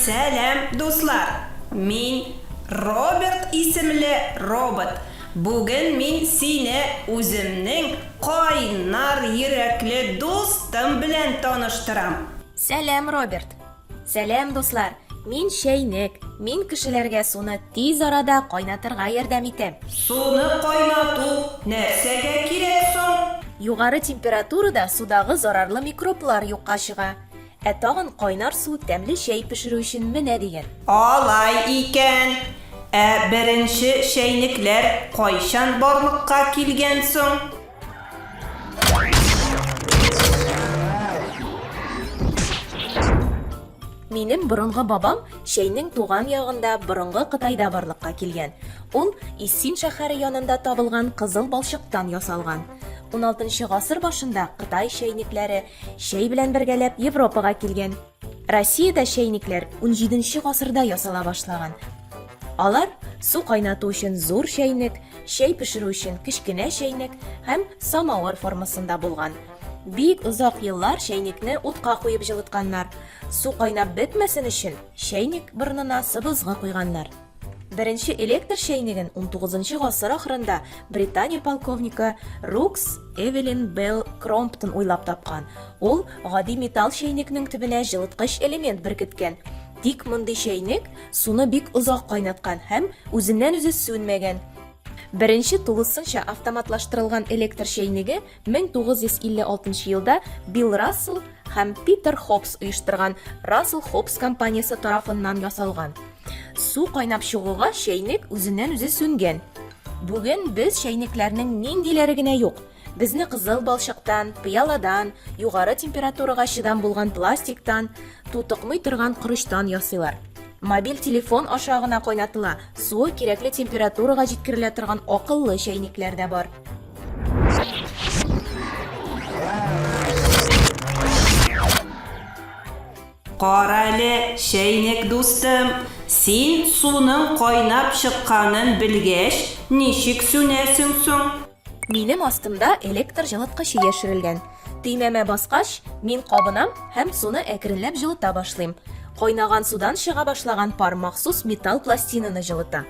Сәлам, дуслар! Мин Роберт исемле робот. Бүген мин сине үземнең кайнар йөрәкле дустым белән таныштырам. Сәлам, Роберт! Сәлам, дуслар! Мин чәйнек. Мин кешеләргә суны тиз арада кайнатырга ярдәм итәм. Суны кайнату нәрсәгә кирәк соң? Югары температурада судагы зарарлы микроблар юкка чыга. Ә тагын кайнар су тәмле чәй пешерү өчен менә дигән. Алай икән. Ә беренче чәйнекләр кайчан барлыкка килгән соң? Минем борынгы бабам Шәйнең туган ягында борынгы Кытайда барлыкка килгән. Ул Иссин шәһәре янында табылган кызыл балчыктан ясалган. 16 гасыр башында Кытай шәйнекләре шәй белән бергәләп Европага килгән. Россиядә чәйникләр 17 нче гасырда ясала башлаган. Алар су кайнату өчен зур чәйнек, чәй пешерү өчен кечкенә чәйнек һәм самавыр формасында булган. Бик озак еллар чәйникне утка куеп җылытканнар. Су кайнап бетмәсен өчен, чәйник борынына сыбызгы куйганнар. Беренче электр чәйнеген 19 гасыр ахырында Британия полковнигы Рукс Эвелин Белл Кромптон уйлап тапкан. Ул гади металл чәйнекнең төбенә җылыткыч элемент беркеткән. Тик мондый чәйнек суны бик озак кайнаткан һәм үзеннән-үзе сүнмәгән. Беренче тулысынча автоматлаштырылган электр чәйнеге 1956 нчы елда Билл Рассел һәм Питер Хоббс оештырган Рассел Хоббс компаниясе тарафыннан ясалган. Су кайнап чыгуга чәйнек үзеннән-үзе сүнгән. Бүген без чәйнекләрнең ниндиләре генә юк. Безне кызыл балчыктан, пыяладан, югары температурага чыдам булган пластиктан, тутыкмый торган корычтан ясыйлар. Мобиль телефон аша гына кайнатыла, суы кирәкле температурага җиткерелә торган акыллы чәйнекләр дә бар. Карале, чәйнек дустым, син суның кайнап чыкканын белгәч, ничек сүнәсең соң? Минем астымда электр җылыткычы яшерелгән. Төймәмә баскач, мин кабынам һәм суны әкренләп җылыта башлыйм. Кайнаган судан чыга башлаган пар махсус металл пластинаны җылыта.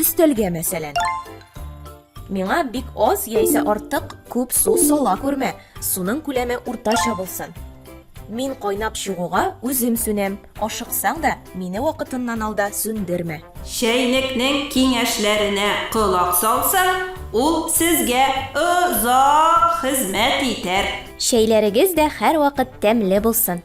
Өстәлгә мәсәлән. Миңа бик аз яисә артык күп су сала күрмә. Суның күләме уртача булсын. Мин кайнап чыгуга үзем сүнәм. Ашыксаң да, мине вакытыннан алда сүндермә. Чәйнекнең киңәшләренә колак салсаң, ул сезгә озак хезмәт итәр. Чәйләрегез дә һәрвакыт тәмле булсын!